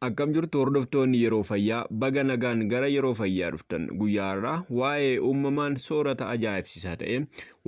Akkam jirtu hordoftoonni yeroo fayyaa baga nagaan gara yeroo fayyaa dhuftan guyyaa irraa waa'ee uumamaan soorata ajaa'ibsiisaa ta'e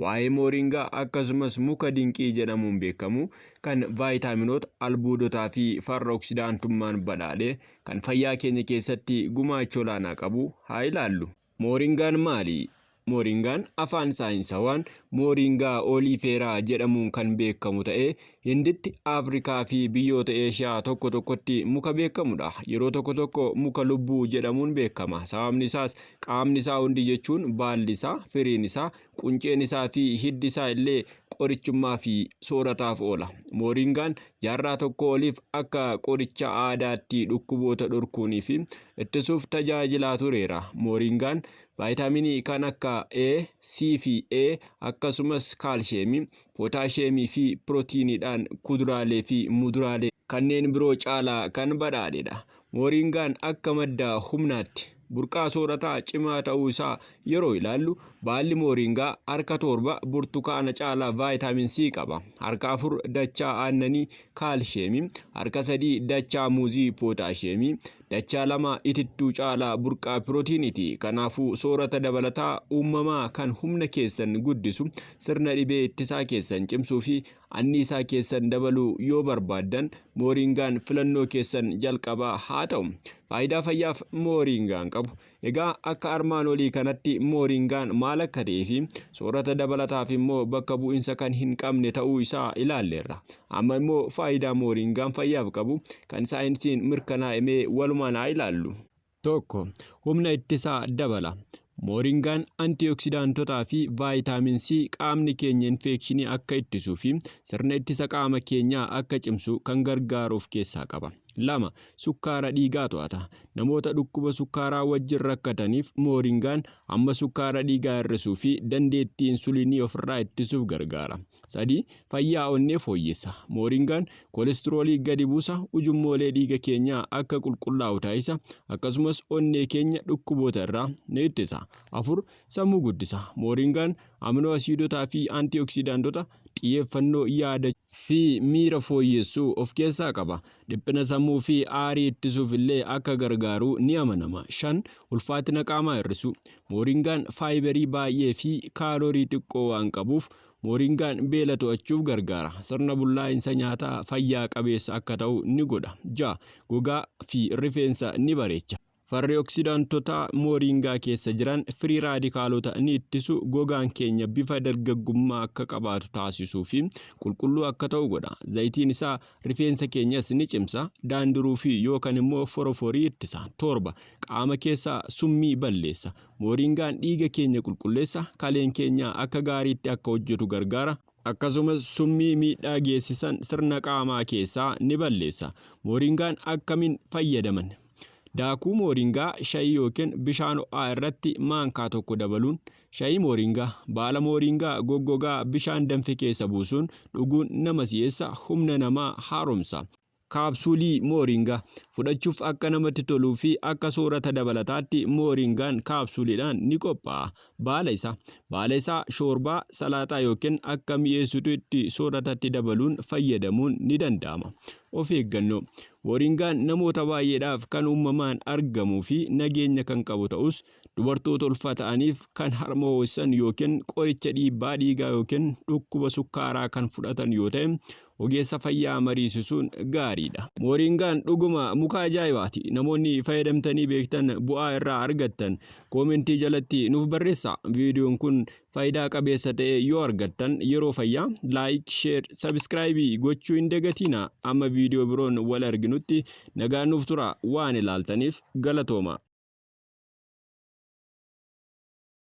waa'ee mooringaa akkasumas muka dinqii jedhamuun beekamu kan vaayitaaminoota albuudotaa fi farra oksidaantummaan badhaadhe kan fayyaa keenya keessatti gumaacha olaanaa qabu haa ilaallu. Mooringaan maali? Mooringaan afaan saayinsawaan Mooringaa ooliifeeraa jedhamuun kan beekamu ta'ee Hinditti, Afrikaa fi biyyoota Eeshiyaa tokko tokkotti muka beekamudha. Yeroo tokko tokko muka lubbuu jedhamuun beekama. Sababni isaas qaamni isaa hundi jechuun baalli isaa, firiin isaa, Qunceen isaa fi hiddi isaa illee qorichummaa fi soorataaf oola. Mooringaan jaarraa tokkoo oliif akka qoricha aadaatti dhukkuboota dhorkuunii fi ittisuuf tajaajilaa tureera. Mooringaan vaayitaaminii kan akka A, C fi E akkasumas kaalsheemii, pootaasheemii fi pirootiiniidhaan kuduraalee fi muduraalee kanneen biroo caalaa kan badhaadhedha. Mooriingaan akka madda humnaatti burqaa soorataa cimaa ta'uu isaa yeroo ilaallu baalli mooriingaa harka torba burtukaana caalaa vaayitaamin C qaba. Harka afur dachaa aannanii kaalsheemii, harka sadii dachaa muuzii pootaasheemii, dachaa lama itittuu caalaa burqaa pirootiiniiti. Kanaafuu soorata dabalataa uumamaa kan humna keessan guddisu, sirna dhibee ittisaa keessan cimsuu fi Anniisaa keessan dabaluu yoo barbaaddan Mooriingaan filannoo keessan jalqabaa haa ta'u. Faayidaa fayyaaf Mooriingaan qabu. Egaa akka armaan olii kanatti Mooriingaan maal akka ta'ee fi soorata dabalataaf immoo bakka bu'insa kan hin qabne ta'uu isaa ilaalleerra. Amma immoo faayidaa Mooriingaan fayyaaf qabu kan saayinsiin mirkanaa'e mee walumaan haa ilaallu. 1. Humna ittisaa dabala. Mooringaan antioksidaantotaa fi vaayitaamin C qaamni keenya infeekshinii akka ittisuu fi sirna ittisa qaama keenyaa akka cimsu kan gargaaru of keessaa qaba. 2. Sukkaara dhiigaa to'ata. Namoota dhukkuba sukkaaraa wajjin rakkataniif mooringaan hamma sukkaara dhiigaa hir'isuu fi dandeettii insuliinii ofirraa ittisuuf gargaara. 3. Fayyaa onnee fooyyessa. Mooringaan kolestiroolii gadi buusa, ujummoolee dhiiga keenyaa akka qulqullaa'u taasisa, akkasumas onnee keenya dhukkuboota irraa ni ittisa. 4. Sammuu guddisa. Mooringaan aminoo asiidotaa fi antioksidaantota xiyyeeffannoo yaada fi miira fooyyessu of keessaa qaba. Dhiphina sammuu fi aarii ittisuuf illee akka gargaaru ni amanama. 5. Ulfaatina qaamaa hir'isu. Mooringaan faayiberii baay'ee fi kaalorii xiqqoo waan qabuuf Mooringaan beela to'achuuf gargaara. Sirna bullaa'insa nyaataa fayyaa qabeessa akka ta'u ni godha. 6. Gogaa fi rifeensa ni bareecha. Farri oksidaantotaa mooringaa keessa jiran firii raadikaalota ni ittisu, gogaan keenya bifa dargaggummaa akka qabaatu taasisuu fi qulqulluu akka ta'u godha. Zayitiin isaa rifeensa keenyas ni cimsa, daandiruu fi yookan immoo foroforii ittisa. 7. Qaama keessa summii balleessa. Mooriingaan dhiiga keenya qulqulleessa, kaleen keenya akka gaariitti akka hojjetu gargaara, akkasumas summii miidhaa geessisan sirna qaamaa keessaa ni balleessa. Mooriingaan akkamiin fayyadaman? Daakuu mooriingaa shayii yookiin bishaan ho'aa irratti maankaa tokko dabaluun, shayii mooriingaa, baala mooriingaa goggogaa bishaan danfe keessa buusuun dhuguun nama si'eessa, humna namaa haaromsa. Kaapsuulii Mooringaa. Fudhachuuf akka namatti toluu fi akka soorata dabalataatti Mooringaan kaapsuuliidhaan ni qophaa'a. Baala isaa. Baala isaa shoorbaa, salaaxaa yookiin akka mi'eessitu itti sooratatti dabaluun fayyadamuun ni danda'ama. Of eeggannoo. Mooringaan namoota baay'eedhaaf kan uumamaan argamuu fi nageenya kan qabu ta'us Dubartoota ulfaa ta'aniif kan harma hoosisan yookiin qoricha dhiibbaa dhiigaa yookiin dhukkuba sukkaaraa kan fudhatan yoo ta'e ogeessa fayyaa mariisisuun gaariidha. Mooriingaan dhuguma muka ajaa'ibaati. Namoonni fayyadamtanii beektan bu'aa irraa argattan koomentii jalatti nuuf barreessaa. Viidiyoon kun Faayidaa qabeessa ta'e yoo argattan yeroo fayyaa like, share, subscribe gochuu hin dagatiinaa. Amma viidiyoo biroon wal arginutti nagaan nuuf turaa. Waan ilaaltaniif galatooma.